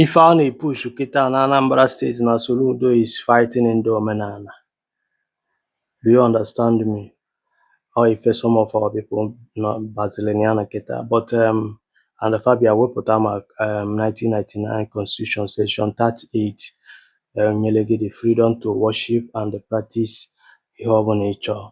Ife a na-epushu kịta na Anambra state na Soludo is fighting ndị omenana. Do you understand me? Ọ ife some of our people nọ bazilin ya na kịta but um, and fa bịa wepụta ma um, 1999 constitution section 38 um, nyere gị the freedom to worship and practice ihe ọbụla ị chọọ.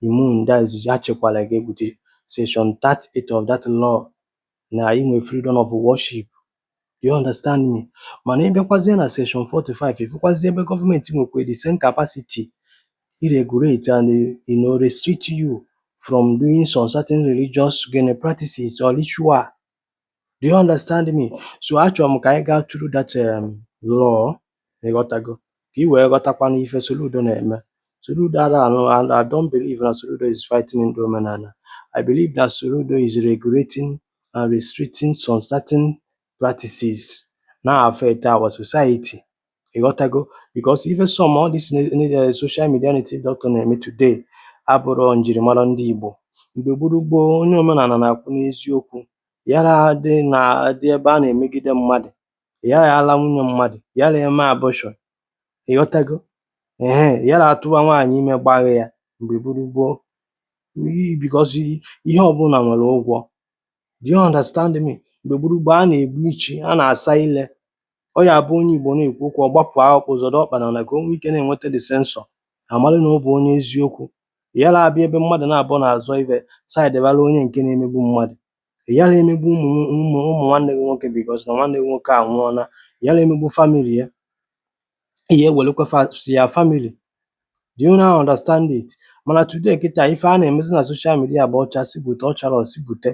imu nda izizi ha chekwara gị bụ the section 38 of that law na i nwee freedom of worship do you understand me mana ị bịakwazie na section 45 ị fụkwazie ebe government nwekwa the same capacity i regulate and you know restrict you from doing some certain religious gịnị practices or ritual Do you understand me? So achọrọ m ka anyị gaa through that um, law ị ghọtago ka ị wee ghọtakwa na ife Soludo na-eme Soludo ara anụ and I don't believe na Soludo is fighting ndị omenana I believe na Soludo is regulating and restricting some certain practices na-affect our society Ị ghọtago because even some all this uh, social media native doctor na-eme today abụrọ njirimara ndị Igbo. Mgbe gburu gboo, onye omenana na-akwụ n'eziokwu, yara dị na dị ebe a na-emegide mmadụ, yara ala nwunye mmadụ, yara eme abortion. Ị ghọtago. Ehe, yara atụwa nwaanyị ime gbagha ya mgbe gburu gboo because ihe ọbụla nwere ụgwọ. Do you understand me? Mgbe gburu gboo, a na-egbu ichi, a na-asa ile. Ọ ya abụ onye Igbo na-ekwu okwu ọ gbapụ akpụkpọ zọrọ ọkpa na ka o nwee ike na-enweta dị sensọ amalụ na ọ bụ onye eziokwu ịyara abịa ebe mmadụ naabọ na-azọ ibe saidewara onye nke na-emegbu mmadụ ịyara emegbu ụmụ ụmụ ụmụ nwanne gị nwoke because na nwanne gị nwoke anwụọla ịyara emegbu family ya ihe ewelekwa si ya family do you now understand it mana today kịta ife a na-emezi na social media bụ ọcha si bute ọchara osi bute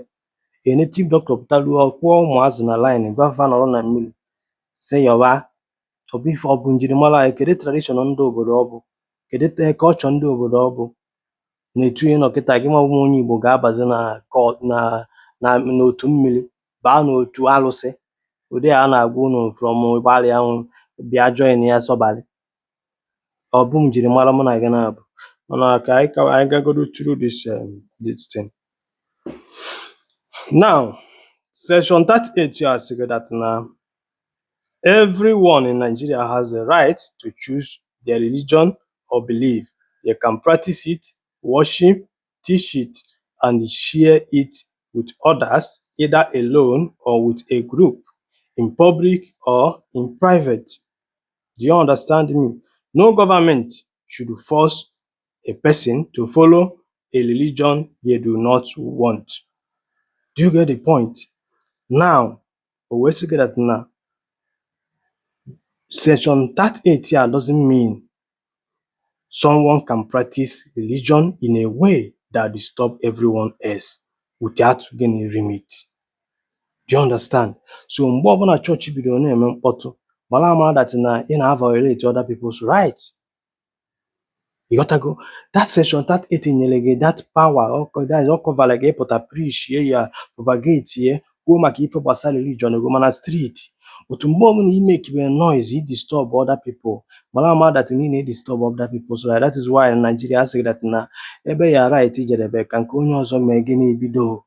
a native doctor pụtalụ ọ kpụọ ụmụazụ na line gwa fa nọrọ na mmiri sị yọba ọ bụ ife ọ bụ njirimara anyị kedu tradition ndị obodo ọ bụ kedu the culture ndị obodo ọ bụ na etu ihe nọ kịta gị mabụ onye igbo ga-abazi na kọ- na na n'otu mmiri baa n'otu alụsị ụdị a na-agwa unu from gbalịa unu bịa join ya sọbalị Ọ bụ njirimara mụ na gị naabọ. Mana ka anyị ka anyị gagodu through this um, this thing. Now, section 38 ya asị gị that na everyone in Nigeria has the right to choose their religion or belief. They can practice it, worship, teach it, and share it with others, either alone or with a group, in public or in private. do you understand me no government should force a person to follow a religion they do not want do you get the point now o wee sị gị that na section 38 a doesn't mean Someone can practice religion in a way that disturb everyone else without gịnị limit. Do you understand? So mgbe ọbụla chọọchị bidoro na-eme mkpọtụ, mara ama that na ị na-violate other people's rights. Ịghọtago? That section 38 nyere gị that power ọ kọ- that is ọ kọvara gị ịpụta preach ye ya propagate ye kwuo maka ife gbasara religion gị ma na street too mgbe ọbụla i makebe noise i disturb other people mara ama that na ị na-edisturb other people so that is why na Nigeria a sị that na ebe your right jedebe ka nke onye ọzọ mee gịnị bido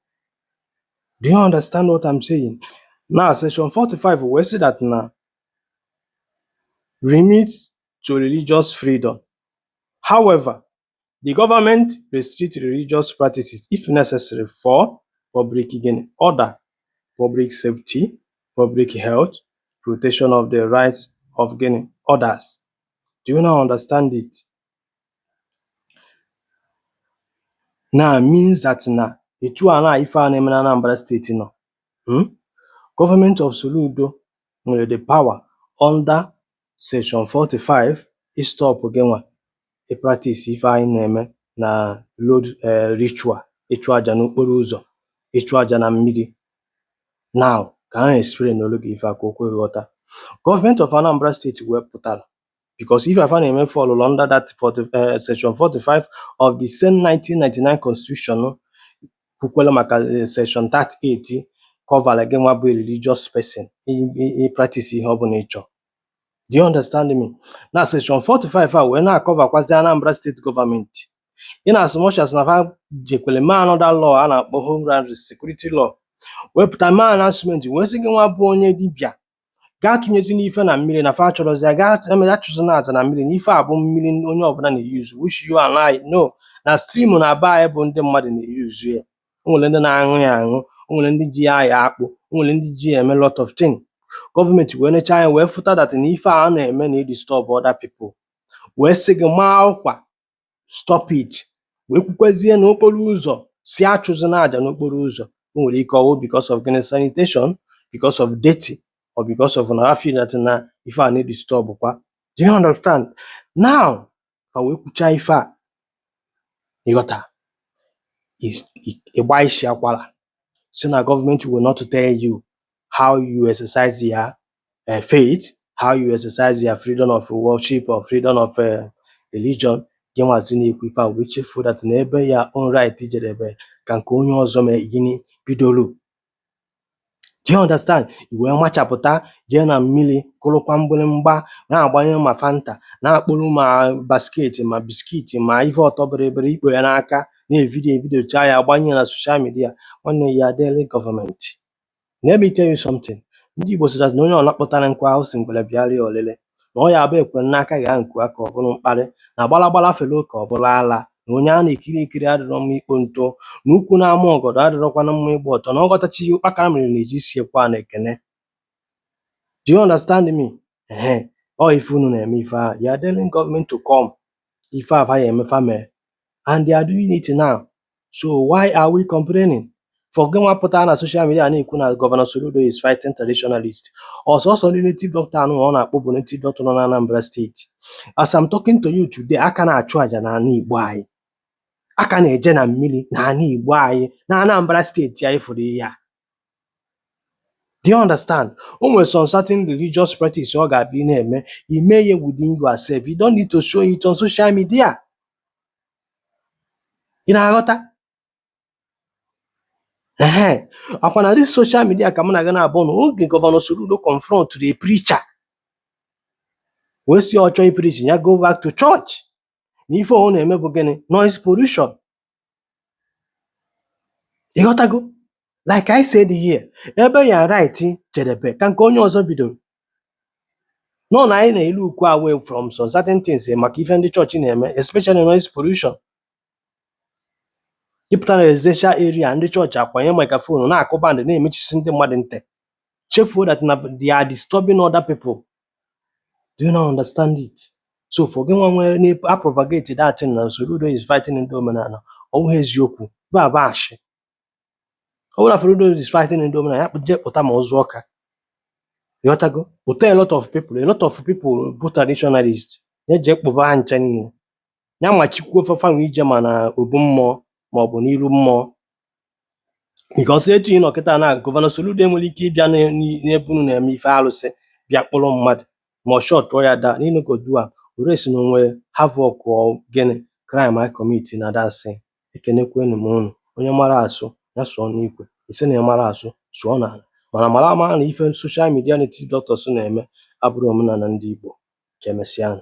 do you understand what I'm saying na section 45 wee sị that na limit to religious freedom however The government restricts religious practices if necessary for public gain, order, public safety, public health, protection of the rights of gịnị others. Do you now understand it? Now means that na etu a na ife a na-eme na Anambra steeti nọ hmm? gọọmenti of Soludo nwere the power under section 45 istop gịnwa ị practice ife anyị na-eme na road eh, ritual ịchụ aja n'okporo ụzọ ịchụ aja na mmiri now ka m explainụrụ gị ife a ka o kwe ghọta gọọmenti of Anambra steeti wee pụta because ife a fa na-eme fall under that 40, eh, section 45 of the same 1999 constitution kwukwere maka eh, section 38 kọvara gị nwa bụ a religious person i- i- i practice ihe ọ bụla ị chọ Do you understand me? Na section 45 a wee na-akọvakwazi Anambra steeti gọọmenti in as much as na fa jekwere mee another law a na-akpọ Homeland Security Law wepụta mee announcement wee sị gị nwa bụ onye dibịa gị atụnyezina ife na mmiri na fa achọrọzi ya gaa eme ya achụzina aja na mmiri na ife a bụ mmiri ndị onye ọbụla na-eyuzu which you and I know na stream na be anyị bụ ndị mmadụ na-eyuzu ya o nwere ndị na-aṅụ ya aṅụ o nwere ndị ji ya ayọ akpụ o nwere ndị ji ya eme lot of thing gọọmenti wee necha anya wee fụta that na ife a na-eme na-edisturb other people wee sị gị maa ọkwa stop it wee kwukwezie na okporo ụzọ sị achụzina aja n'okporo ụzọ o nwere ike ọwụ because of gịnị sanitation because of dirty or because of na a fụ that na ife a na-edisturbkwa do you understand now fa wee kwuchaa ife a ị ghọta is i- ị gba isi akwara sị na gọọmenti will not tell you how you exercise your uh, faith how you exercise your freedom of worship or freedom of uh, religion gị nwazi na-ekwu ife a wee chefuo that na ebe your own right jedebe ka nke onye ọzọ mee gịnị bidoro Do you understand? I wee machapụta jee na mmiri kụrụkwa mgbịrịmgba na-agbanye ma fanta na-akpụrụ ma basket ma biskit ma ihe ọtọ bịrịbịrị i kpo ya n'aka na-evidio evidio chaa ya gbanye na soshal midia nwanne you are daring gọọmenti. Let me tell you something. Ndị Igbo sị that na onye ọbụla kpụtara nkụ ahụhụ sị ngwere bịara ya ọlịlị. na ọ ya bụ ekwe n'aka ghaa nku aka ọ bụrụ mkparị na gbalagbala fere oke ọ bụrụ ala na onye a na-ekiri ekiri adịrọ mma ikpo ntụ na ukwu na-ama ọgọdọ adịrọkwana mma ịgba ọtọ na ọghọtachi ihe ụkpakara mere na-eji siekwa na ekene do you understand me ehe ọ ife unu na-eme ife a you are telling gọọmenti to come ife fa ya-eme fa mee and they are doing it now so why are we complaining for gị nwa pụta na social media na-ekwu na gọvanọ Soludo is fighting traditionalist ọ sọsọ ndị native doctor anụ ọ na-akpụ bụ native doctor nọ na Anambra steeti as I'm talking to you today a ka na-achụ aja na anị Igbo anyị a ka na-eje na mmiri na anị Igbo anyị na Anambra steeti anyị fụrụ ihe a Do you understand? O nwere some certain religious practice ọ ga-abụ ị na-eme, i mee ya within yourself. You don't need to show it on social media. Ị na-aghọta? Ehen. Ọ kwa na this social media ka mụ na gị na-abụ na oge Gọvanọ Soludo confrontụrụ a preacher wee sị ọ chọọ ipreach ya go back to church na ife ọ na-eme bụ gịnị noise pollution. Ị ghọtago? Like I said here, ebe your right jedebe ka nke onye ọzọ bidoro. nọ na anyị na-elook away from some certain things maka ife ndị chọọchị na-eme especially noise pollution ịpụta na residential area ndị chọọchị akwanye microphone na-akụ bandị na-emechisi ndị mmadụ ntị chefuo that na they are disturbing other people do you not understand it so for gị nwa wee na-apropagate that thing na Soludo is fighting ndị omenala ọ bụghị eziokwu ọ bụ ashị ọ bụrụ na Soludo is fighting ndị omenala ya kpụje pụta ma Ụzụ Ọka ị ghọtago pụta a lot of people a lot of people bụ traditionalist ya jee kpụba ha ncha niile ya machikwuo fa nwa ije ma na obu mmụọ ma ọ bụ n'iru mmụọ nke ọsọ etu ị nọ kịta na gọvanọ Soludo enwere ike ịbịa n'e- n'i- n'ebe unu na-eme ife arụsị bịa kpọrọ mmadụ ma ọ shọtụọ ya down ị nụgodu arrest na o nwe havoc ọ gịnị crime a kọmiti na dansị ekenekwenu m unu. Onye mara asụ, ya sụọ n'ikwe. Ị sị na ị marọ asụ, sụọ n'ala. Mana mara amara na ife social media native doctors na-eme abụrọ omenala ndị Igbo. Ka emesịa nụ.